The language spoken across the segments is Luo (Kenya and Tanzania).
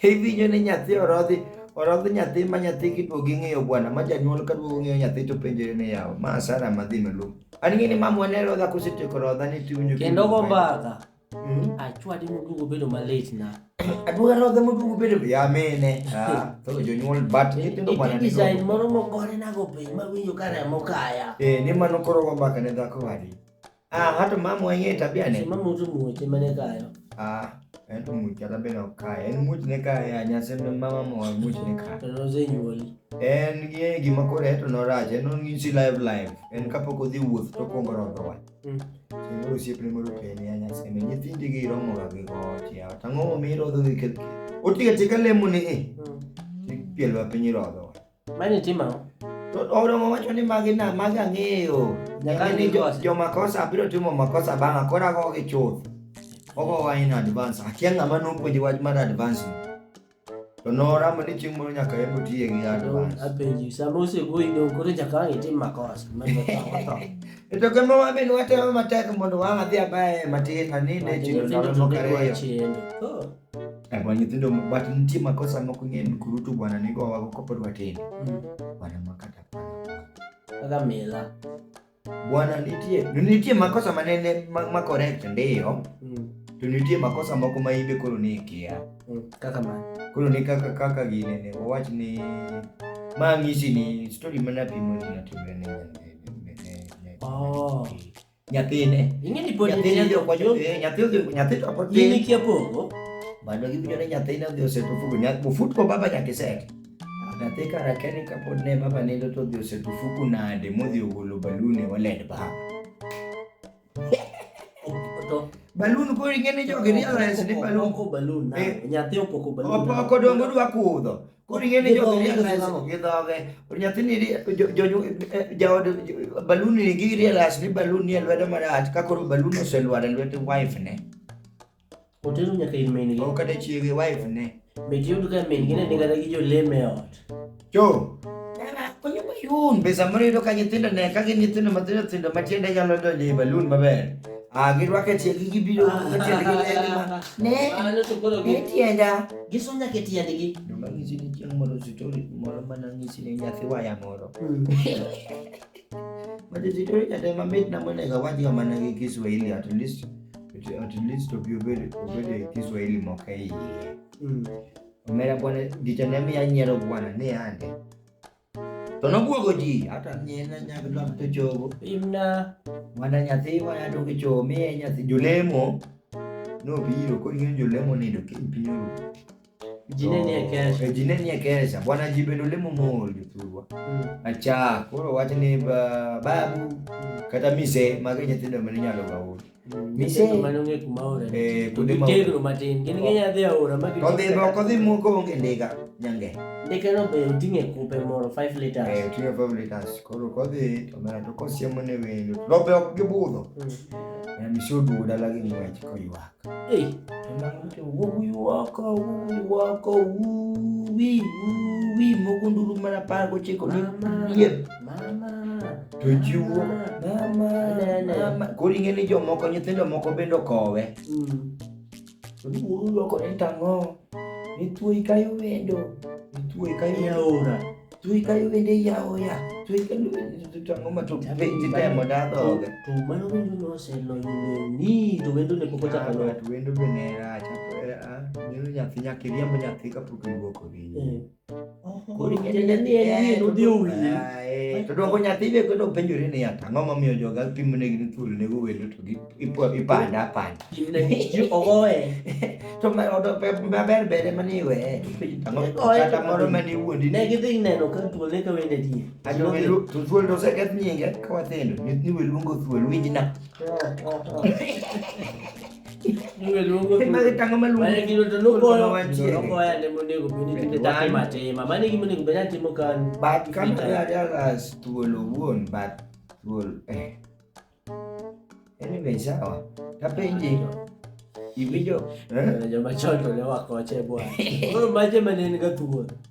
Iwinjo ni nyathi orodhi orodh nyathi ma nyathi kiduogo ing'eyo bwana ma janyuol ka duogo ng'eyo nyathi to penjore ni yawa ma asara madhi maluong. An ng'e ni mamwa ne rodha kosetieko rodha ni tiwinjo kendo go mbaka hmm? achwadi moduogo bedo malit na aduoga rodha moduogo bedo ya mene ah, to jonyuol bat nyithindo bwana ni design moro mogore nago piny mawinjo ka remo kaya eh ni mano koro go mbaka ne dhako wadi Ah, hata mama wenyewe tabia ni. Mama mtu mmoja mane kayo. Ah, ento mmoja tabia na kaya. Eno mmoja ne kaya nyase mama mama mmoja ne kaya. Tono ze nyoli. En ye gima kore eto no raje, eno ngisi live live. En kapo kodhi wuoth to kongo rodo wa. Mm. Singoro siep ne moro pene ya nyase ne nyithindi gi romo ga gi gochi. Tango mi rodo gi kelki. Otiga tika lemo ni e. Pielo apinyi rodo. Mani timo ang'o? To Oromo wacho ni magi na magi ang'eyo. Nyaka Nyaka ni jo, nikose. jo makosa biro timo makosa bang'a koro ago gi chuth. Ogowa in advance. Akia ng'ama nopuonji wach mar advance. ni. To noramo ni chieng' moro nyaka yembo tiye gi advance. Apenji, sama osegoyi dong' koro nyaka ang' itim makosa. Mano otho. E to kama wabe ni watemo matek mondo wang'a dhi abaya e matin aninde e chilo ndalo moko ariyo. Chendo. Oh. Bwana eh, nyithindo but nitie makosa moko ing'e ni kurutu bwana nigo wago kopod watindo. Mm. Bwana makata kaka mila. Bwana nitie nitie makosa manene ma, ma correct ndio. Mm. To nitie makosa moko ma imbe koro ni ikia. Mm. Kaka ma. Koro ni kaka kaka gine ne wawach ni ma ng'isi ni story mana pimo ni natimre ne. Oh. Nyathine. Ing'e ni pod nyathine odhi okwa nyathine, nyathi odhi nyathi to pod tin. Gini kia pogo. Mano giwinjo ni nyathine odhi oseto fuku, nyathi ofut ko baba nyaka iset. Nyathi kara keni ka pod ne baba nindo to odhi oseto fuku nade modhi ogolo balun e wallet ba. Balun ko ing'e ni jogi realize ni balun. Opoko balun. Eh. Nyathi opoko balun. Opoko dongo dwa kudho. Koro ing'e ni jogi realize gidhoge. Nyathi ni jaod balun ni gi realize ni balun ni e lwedo marach ka koro balun oselwar e lwet wife ne. Otero nyaka ir min gi. Kata chiege wife ne. Be tiyud ka min gi ne ni kata gi joleme e ot. Jo. Konyo balun. Be samoro yudo ka nyithindo ne ka gin nyithindo matindo tindo matiende nyalo donjo e balun maber. Ah, girwake tiendgi gibiro, tiendgi ne, ne, ne tienda. Giso nyaka e tiendgi. Joma nyisi ni chieng' moro sitori moro mana nyisi ni nyathi waya moro. Mm. But sitori kata mamit na monego awach ga mana gi Kiswahili at least at least obi obed obed e Kiswahili moko e iye. Mm. Omera bwana gicha ne miya nyiero bwana ni ande. To nobwogo ji, hata nyina nyaka dwa to chogo. Imna. Mana nyathi waya to kicho miye nyathi jolemo. Nobiro kod ng'eyo jolemo nindo kiny piny oru. Jine ni e kesha. Jine ni e kesha. Bwana ji bende olemo mol jothurwa. Acha, koro wach ni babu kata mise magi nyithindo mane inyalo ga ul. odhiboko dhi moko onge ndiga nyange ndikeno be oting'e kupe moro 5 liters eh, oting'e 5 liters koro kodhi to mera to kosiemo ne wendo to be ok gibudho mm. eh, misi oduogo dala gi ng'wech koywak wuoko wuoko wuwi wuwi mogo nduru mana par gochiko ni tochiwo koro ing'e ni jomoko nyithindo moko bende okowe olokore mm. tang'o nithuoyi kayo wendo nithuoyi kayo yaora thuoyi kayo wende yaoya thuoyi kayo wende tang'o ma to titemo dadhoga to mano wendo noselonyo ni to wendo ne pok ochako lok wendo be ne rach nyathi nyaka iriemb nyathi kapok iwuok oriyo to dwoko nyathi be kendo penjore ni ata ang'o momiyo joga pimo ne gin thuol nego welo to ipanda apanda to maber bere mani iweye kata moro mani wuondi ne gidhi neno ka thuol ne ka wende tie to thuol to oseketh nyinge ka wathindo ni weluongo thuol winjna Maritanga maluongo. Mane gino to nogoyo. Nogoyo ane monego bed ni tinde dhano matima. Mane gima onego bed ni atimo kan. But kama ajalas thuolo wuon but thuol. Eh. Anyway, sawa. Tapenji. Iwinjo? Eh? Joma chon to ne wakoche bwana. Koro maje mane en ga thuol.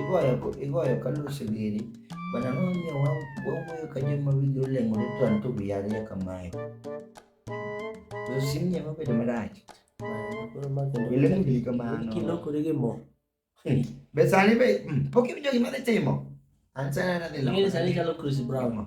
Igoyo go, igoyo ka luso giri. Bana no ne wa wawuoyo ka joma wigi oleng'ore to an to wiya nya kamae. To sim nya mabedo marach. Ilemo giri kamano. Kilokore gi mo. Be sani be mm, pok iwinjo gima dhi timo? An sani nadhi Ing'eni sani loko. chalo Chris Brown.